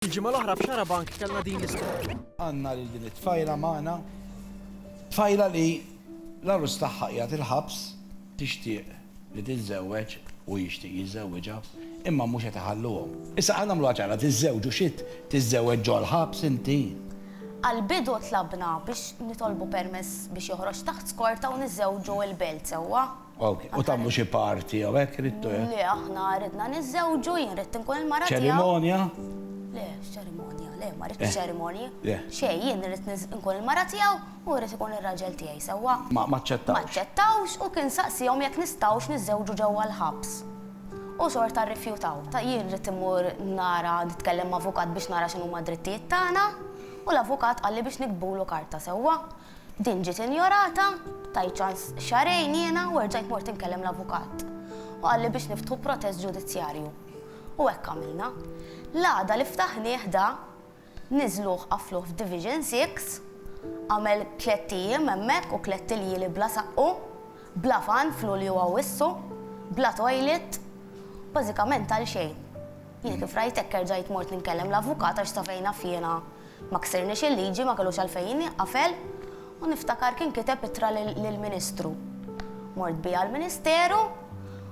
Il-ġimgħa l-oħra f'Xarabank kellna din l-istorja. Għandna lil din it-tfajla magħna, tfajla li l-għarus tagħha qiegħed il-ħabs, tixtieq li tiżżewweġ, hu jixtieq jiżżewwiġha, imma mhux qed iħalluhom. Issa ħa nagħmluha ċara, tiżżewġu xi tiżżewweġ ġol-ħabs inti? Għall-bidu tlabna biex nitolbu permess biex joħroġ taħt skorta u niżżewġu il-belt sewwa. Okej, u tagħmlu xi party jew hekk ridtu? Le, aħna ridna niżżewġu, jien ridt inkun il-mara tiegħu. Ċerimonja? Le, x'ċerimonja, le, ma ridtx ċerimonji. Xejn, jien ridt inkun il-mara tiegħu u jrid ikun ir-raġel tiegħi, sewwa? Ma aċċettawx. Ma aċċettawx u kien saqsiehom jekk nistgħux niżżewġu ġewwa l-ħabs. U xorta rrifjutaw. Ta' jien ridt immur nara nitkellem ma' avukat biex nara x'inhuma d-drittijiet tagħna u l-avukat qalli biex niktbulu karta, sewwa? Din ġiet injorata, tajt ċans xahrejn jiena u erġajt mort inkellem l-avukat. U qalli biex niftħu protest ġudizzjarju. U hekk għamilna. L-għada li ftaħnieh da, niżluh qaffluh f'Division Six, għamel tlett ijiem hemmhekk u tlett iljieli bla saqqu, bla fan f'Lulju u Awwissu, bla toilet, bażikament għalxejn. Jiena kif rajt hekk erġajt mort ninkellem l-avukat għax safejn naf jiena Ma ksirniex il-liġi, ma kellux għalfejn jingħafel u niftakar kien kiteb ittra lill-Ministru. Mort biha l-Ministeru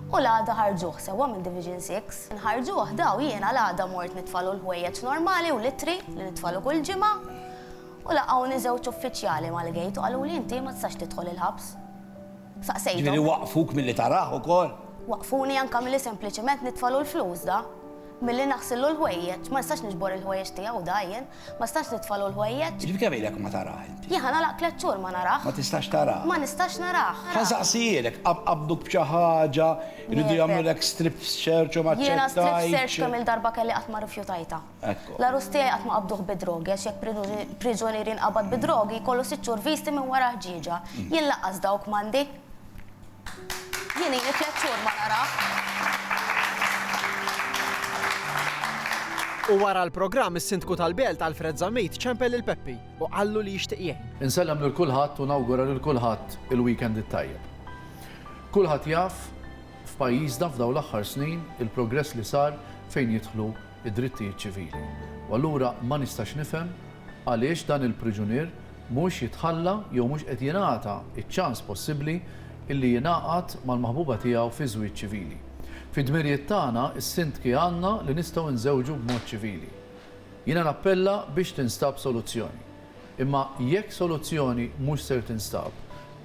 u l-għada ħarġuh, sewwa minn Division Six. Nħarġuh daw jiena l-għada mort nitfalu l-ħwejjeġ normali u l-ittri li nitfalu kull ġimgħa u laqgħuni żewġ uffiċjali mal-gate u qaluli inti ma tistax tidħol il-ħabs. Saqsejthom. Ġifieri waqqfuk milli tarah ukoll? Waqqfuni anke milli sempliċement nitfalu l-flus da. Milli naħsillu l-ħwejjeġ, ma nistax niġbor il-ħwejjeġ tiegħu hu dgħajjen, ma nistax nitfagħlu l-ħwejjeġ. Jiġifieri kemm ilek ma tarah inti? Jien ħa nagħlaq tliet xhur ma narah. Ma tistax tarah? Ma nistax narah. Ħa nsaqsielek, qabduk b'xi ħaġa, iridu jagħmlulek strip search u ma ċċettajtx? Jiena strip search kemm il-darba kelli qatt ma rrifjutajtha. L-għarus tiegħi qatt ma qabduh bid-drogi għax jekk priġunier jinqabad bid-drogi jkollu sitt xhur visti minn wara ħġieġa. Jien lanqas dawk m'għandi. Jien ili tliet xhur ma narah. U wara l-programm is-Sindku tal-Belt Alfred Zammit ċempel lil Peppi u qallu li jixtieq jgħin. Insellem lil kulħadd u nawgura lil kulħadd il-weekend it-tajjeb. Kulħadd jaf f'pajjiżna f'dawn l-aħħar snin il-progress li sar fejn jidħlu d-drittijiet ċivili. U allura ma nistax nifhem għaliex dan il-priġunier mhux jitħalla jew mhux qed jingħata ċ-ċans possibbli illi jingħaqad mal-maħbuba tiegħu fi żwieġ ċivili. Fid-dmirijiet tagħna, is-Sindki għandna li nistgħu nżewġu b'mod ċivili. Jiena nappella biex tinstab soluzzjoni. Imma jekk soluzzjoni mhux ser tinstab,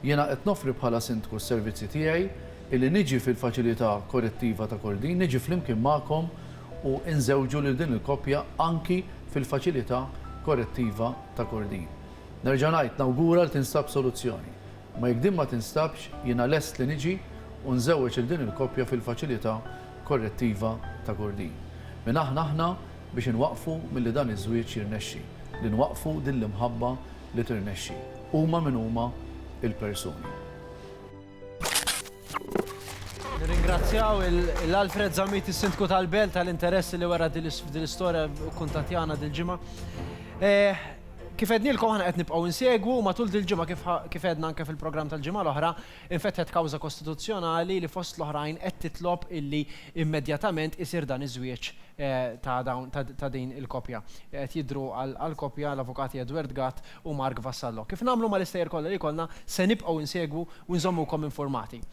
jiena qed noffri bħala Sindku s-servizzi tiegħi illi niġi fil-Faċilità Korrettiva ta' Kordin, niġi flimkien magħkom, u nżewġu lil din il-koppja anki fil-Faċilità Korrettiva ta' Kordin. Nerġa' ngħid, nawgura li tinstab soluzzjoni. Imma jekk din ma tinstabx, jiena lest li niġi u nżewweġ lil din il-koppja fil-Faċilità Korrettiva ta' Kordin. Min aħna aħna biex inwaqqfu milli dan iż-żwieġ jirnexxi, li nwaqqfu din l-imħabba li tirnexxi? Huma min huma l-persuni. Nirringrazzjaw l-Alfred Zamit, is-Sindku tal-Belt, tal-interess li wara din l-istorja kuntatjana dil-ġimgħa. Eh, kif ednilkom ħana qed nibqgħu insegwu matul dil-ġimgħa kif edna anke fil-programm tal-ġimgħa l-oħra, infetħet kawża kostituzzjonali li fost l-oħrajn qed titlob illi immedjatament isir dan iż-żwieġ eh, ta' din il-kopja. Qed jidru għal kopja l-Avukati Edward Gatt u Mark Vassallo. Kif nagħmlu mal-istejjer kollha li jkollna, se nibqgħu insegwu u nżommukom infurmati.